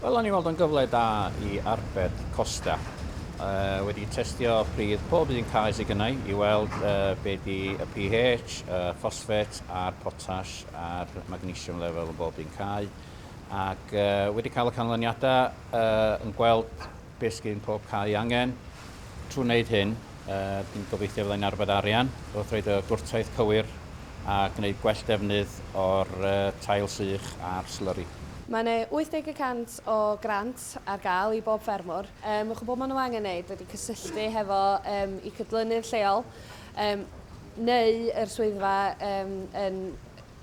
Wel, o'n i'n weld o'n gyfle da i arbed costa. Uh, wedi testio pridd pob un cae sydd gynnau i weld uh, be di y pH, y ffosfet a'r potas a'r magnesium level yn bob un cae. Ac uh, wedi cael y canlyniadau uh, yn gweld Beth sydd yn pob cae angen. Trwy wneud hyn, dwi'n gobeithio fydda i'n arbed arian wrth roid y gwrtaith cywir a gwneud gwell defnydd o'r tail sych a'r slurry. Mae 'na 80 y cant o grant ar gael i bob ffermwr. Mae chwbl maen nhw angen wneud ydy cysylltu hefo eu cydlynydd lleol neu yr swyddfa yn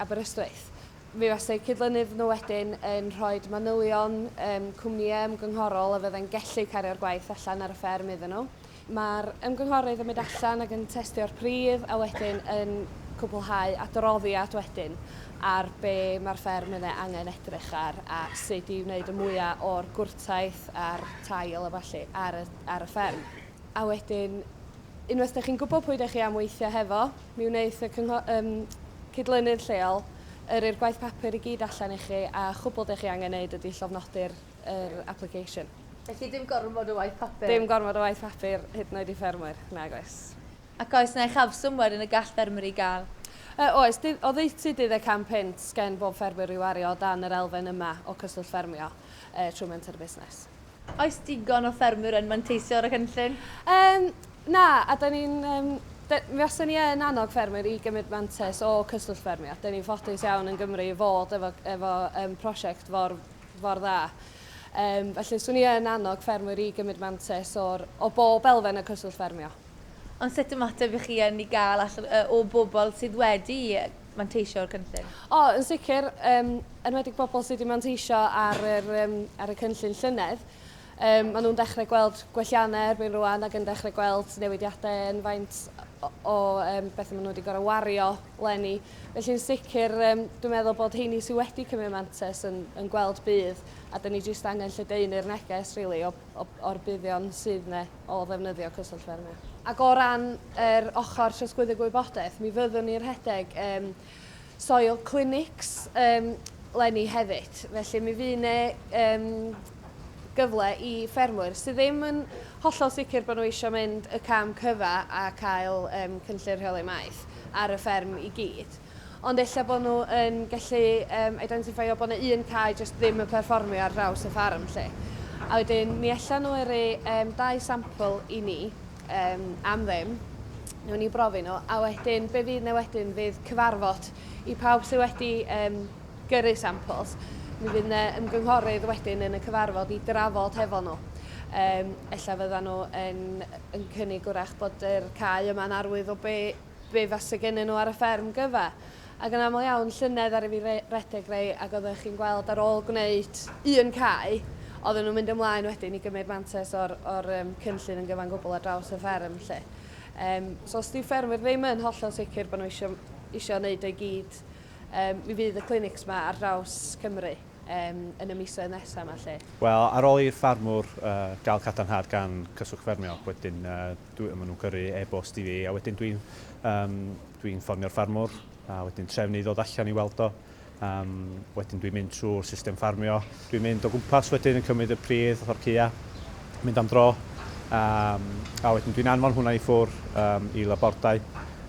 Aberystwyth. Mi fasai cydlynydd nhw wedyn yn rhoi manylion um, cwmnïau ymgynghorol a fyddai'n gellu cario'r gwaith allan ar y fferm iddyn nhw. Mae'r ymgynghorydd yn mynd allan ac yn testio'r pridd a wedyn yn cwblhau adroddiad wedyn ar be mae'r fferm yn ei angen edrych ar a sut i wneud y mwyaf o'r gwrtaith a'r tail a falle ar y, ar y fferm. A wedyn, unwaith da chi'n gwybod pwy da chi am weithio hefo, mi wneith y cyngho- um, cydlynydd lleol yrru'r gwaith papur i gyd allan i chi a chwbl da chi angen neud ydy llofnodi'r er application. Felly dim gormod o waith papur? Dim gormod o waith papur, hyd yn oed i ffermwyr, nag oes. Ac oes yna uchafswm wedyn y gall ffermwyr ei gael? Uh, oes, o ddeutu 15 punt gen bob ffermwyr i wario o dan yr elfen yma o cyswllt ffermio uh, trwy Menter y Busnes. Oes digon o ffermwyr yn manteisio ar y cynllun? Yym, na, a da ni'n... Yym, da... Mi fase ni yn annog ffermwyr i gymryd mantais o Cyswllt Ffermio. Da ni'n ffodus iawn yn Gymru i fod efo, efo um, prosiect for, for dda. Um, felly, swn i yn annog ffermwyr i gymryd mantais o'r, o bob elfen y Cyswllt Ffermio. Ond sut ymateb i chi yn i gael allan, uh, o bobl sydd wedi manteisio o'r cynllun? O, yn sicr, um, enwedig bobl sydd wedi manteisio ar, yr, um, ar y cynllun llynedd. Um, maen nhw'n dechrau gweld gwelliannau erbyn rwan ac yn dechrau gweld newidiadau yn faint o, o um, beth maen nhw wedi gorau wario lenni. Felly'n sicr, um, dwi'n meddwl bod heini sydd wedi cymryd mantes yn, yn gweld bydd a dyn ni jyst angen lledaenu'r neges really, o, o, o'r buddion sydd yna. o ddefnyddio Cyswllt Ffermio. Ac o ran yr ochr trosglwyddo gwybodaeth, mi fyddwn ni'n rhedeg um, soil clinics um, lenni hefyd. Felly mi fydd yna um, gyfle i ffermwyr sydd ddim yn hollol sicr bod nhw eisiau mynd y cam cyfa a cael um, cynllun rheoli maeth ar y fferm i gyd. Ond ella bod nhw yn gallu yym identifeio bod yna un cae jyst ddim yn perfformio ar draws y ffarm 'lly. A wedyn mi ella nhw yrru yym dau sampl i ni yym am ddim, newn ni brofi nhw, a wedyn be fydd 'na wedyn fydd cyfarfod i pawb sydd wedi yym gyrru samples. Mi fydd 'na ymgynghorydd wedyn yn y cyfarfod i drafod hefo nhw. Yym ella fyddan nhw yn yn cynnig 'w'rach bod yr cae yma'n arwydd o be' be fase gennyn nhw ar y fferm gyfa. Ac yn aml iawn, llynedd aru fi re- redeg rei ac oeddech chi'n gweld ar ôl gwneud un cae, oedden nhw'n mynd ymlaen wedyn i gymryd mantes o'r, o'r um, cynllun yn gyfan gwbl ar draws y fferm lle. Um, so os di ffermwyr ddim yn hollol sicr bod nhw eisiau, eisiau wneud o'i gyd, um, mi fydd y clinics yma ar draws Cymru um, yn y misoedd nesaf yma lle. Wel, ar ôl i'r ffarmwr uh, gael cadarnhad gan Cyswllt Ffermio, wedyn uh, dwi, maen nhw'n gyrru e-bost i fi a wedyn dwi'n um, dwi ffonio'r ffarmwr a wedyn trefnu i ddod allan i weld o. Um, wedyn dwi'n mynd trwy'r system ffarmio. Dwi'n mynd o gwmpas wedyn yn cymryd y pridd o'r cya, mynd am dro. Um, a wedyn dwi'n anfon hwnna i ffwr um, i labordau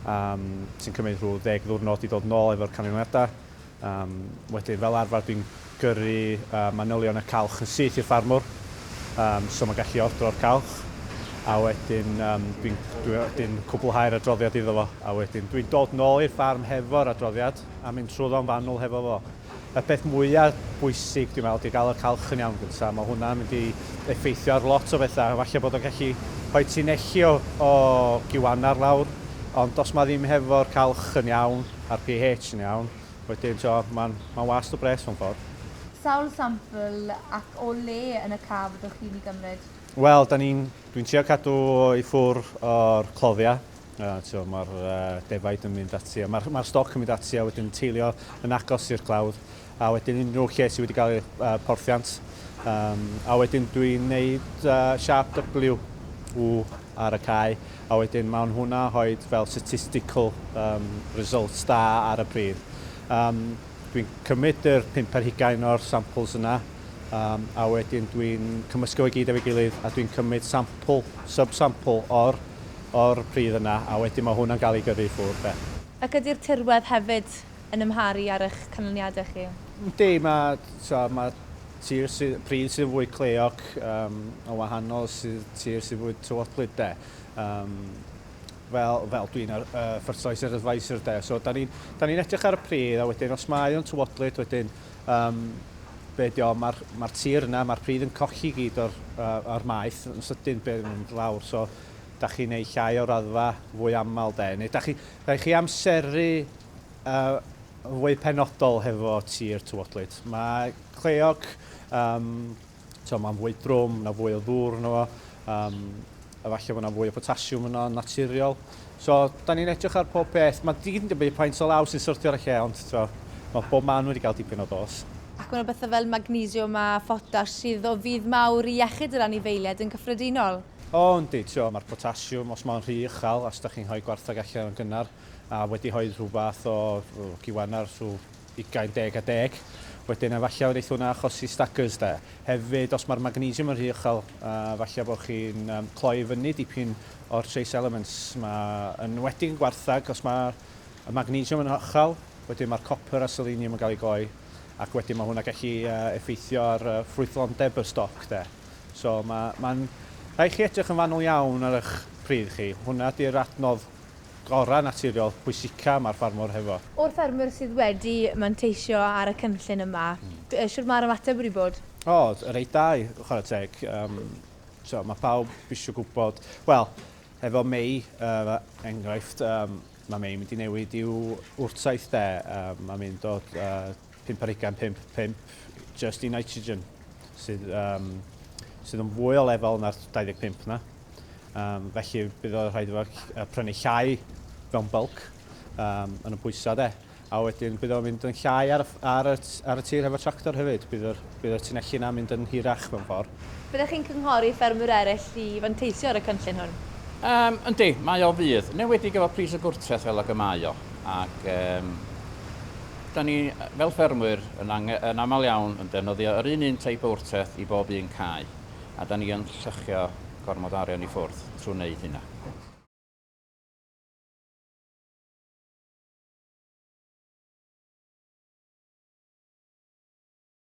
um, sy'n cymryd rhyw ddeg ddwrnod i ddod nôl efo'r canlyniadau. Um, wedyn, fel arfer, dwi'n gyrru uh, manylion y calch yn syth i'r ffarmwr, um, so mae'n gallu ordro'r calch, a wedyn um, dwi'n dwi, dwi cwblhau'r adroddiad iddo fo, a wedyn dwi'n dod nôl i'r ffarm hefo'r adroddiad a mynd trwy ddo'n fanwl hefo fo. Y peth mwyaf bwysig, dwi'n meddwl, di gael y calch yn iawn gyntaf. Mae hwnna'n mynd i effeithio ar lot o bethau. Falle bod o'n gallu rhoi ti'n echi o, o giwannar lawr, ond os mae ddim hefo'r calch yn iawn, a'r pH yn iawn, wedyn t'wod ma'n ma'n wast o bres mewn ffordd. Sawl sampl ac o le yn y ca fyddwch chi'n i gymryd? Wel 'dan ni'n, dwi'n trio cadw o i ffwr o'r cloddia, yy t'wod ma'r yy defaid yn mynd ati a ma'r ma'r stoc yn mynd ati a wedyn yn teilio yn agos i'r clawdd. a wedyn unrhyw lle sydd wedi cael ei uh, porthiant. Um, a wedyn dwi'n gwneud uh, siap W, W ar y cae, a wedyn mae'n hwnna hoed fel statistical um, results da ar y pridd. Um, dwi'n cymryd yr pimp ar hugain o'r samples yna, um, a wedyn dwi'n cymysgu o'i gyd efo'i gilydd, a dwi'n cymryd sample, sub-sample o'r, or pridd yna, a wedyn mae hwnna'n cael ei gyrru i ffwrdd. Ac ydy'r tirwedd hefyd yn amharu ar eich canlyniadau chi? Yndi, mae, tibod, mae tir sy, pryd sydd yn fwy cleog um, o wahanol sydd tir sydd fwy tywodlyd de. Um, fel, fel dwi'n ar, uh, ffyrtoes yr advisor de. So, da ni'n ni edrych ar y pryd a wedyn os mae o'n tywodlyd wedyn um, be di o, mae'r ma tir yna, mae'r pryd yn colli gyd o'r, uh, or maeth yn sydyn beth yn mynd lawr. So, da chi'n ei llai o raddfa fwy aml de. Neu da chi, da chi amseru A fwy penodol hefo tir tywodlyd. Mae cleog, um, to, mae'n fwy drwm, na fwy o ddŵr yno fo, um, a falle bod yna fwy o potasiwm yno yn naturiol. So, da ni'n edrych ar pob peth. Mae digyd yn dibynnu paint o law sy'n syrthio ar y lle, ond to, mae bob man wedi cael dipyn o dos. Ac mae yna bethau fel magnesiwm a photas sydd o fudd mawr i iechyd yr anifeiliaid yn gyffredinol. O, yndi, to, mae'r potasiwm, os mae'n rhy uchel, os da chi'n rhoi gwartheg allan yn gynnar, a wedi rhoi rhyw fath o giwan ar rhyw ugain deg a deg. Wedyn efallai wneith hwnna achosi staggers de. Hefyd, os mae'r magnesium yn rhy uchel, uh, efallai bod chi'n um, cloi fyny dipyn o'r trace elements. Mae yn enwedig yn gwarthag, os mae y magnesium yn uchel, wedyn mae'r copper a selenium yn cael ei gloi, ac wedyn mae hwnna gallu uh, effeithio ar uh, ffrwythlondeb y stoc de. So mae'n ma, ma rhaid chi edrych yn fanwl iawn ar eich pridd chi. Hwnna di'r adnodd gorau naturiol pwysica ma'r ffarmwr hefo. O'r ffermwyr sydd wedi manteisio ar y cynllun yma, shwt ma'r ymateb wedi bod? O, reit da i chwarae teg. Yym, t'o' ma' pawb isio gwbod, wel, hefo Mei, yy, enghraifft, yym, ma' Mei mynd i newid i'w wrtaith 'de, yym, ma' mynd o, yy, 5 ar ugain, 5, 5, just i nitrogen, sydd, um, sydd yn fwy o lefel na'r 25 na. Um, felly bydd o'n rhaid efo prynu llai mewn bulk um, yn y pwysau de. A wedyn bydd o'n mynd yn llai ar, ar, y, ar y tir hefo tractor hefyd. Bydd yr, bydd yr tunelli yna mynd yn hirach mewn ffordd. Byddech chi'n cynghori ffermwyr eraill i fanteisio ar y cynllun hwn? Um, yndi, mae o fydd. Newedig efo pris y gwrtreth fel ag y mae o. Ac, um, Da ni, fel ffermwyr, yn ange-, yn aml iawn yn defnyddio yr un un teip o wrteth i bob un cae, a da ni yn lluchio gormod o arian i ffwrdd trwy wneud hynna.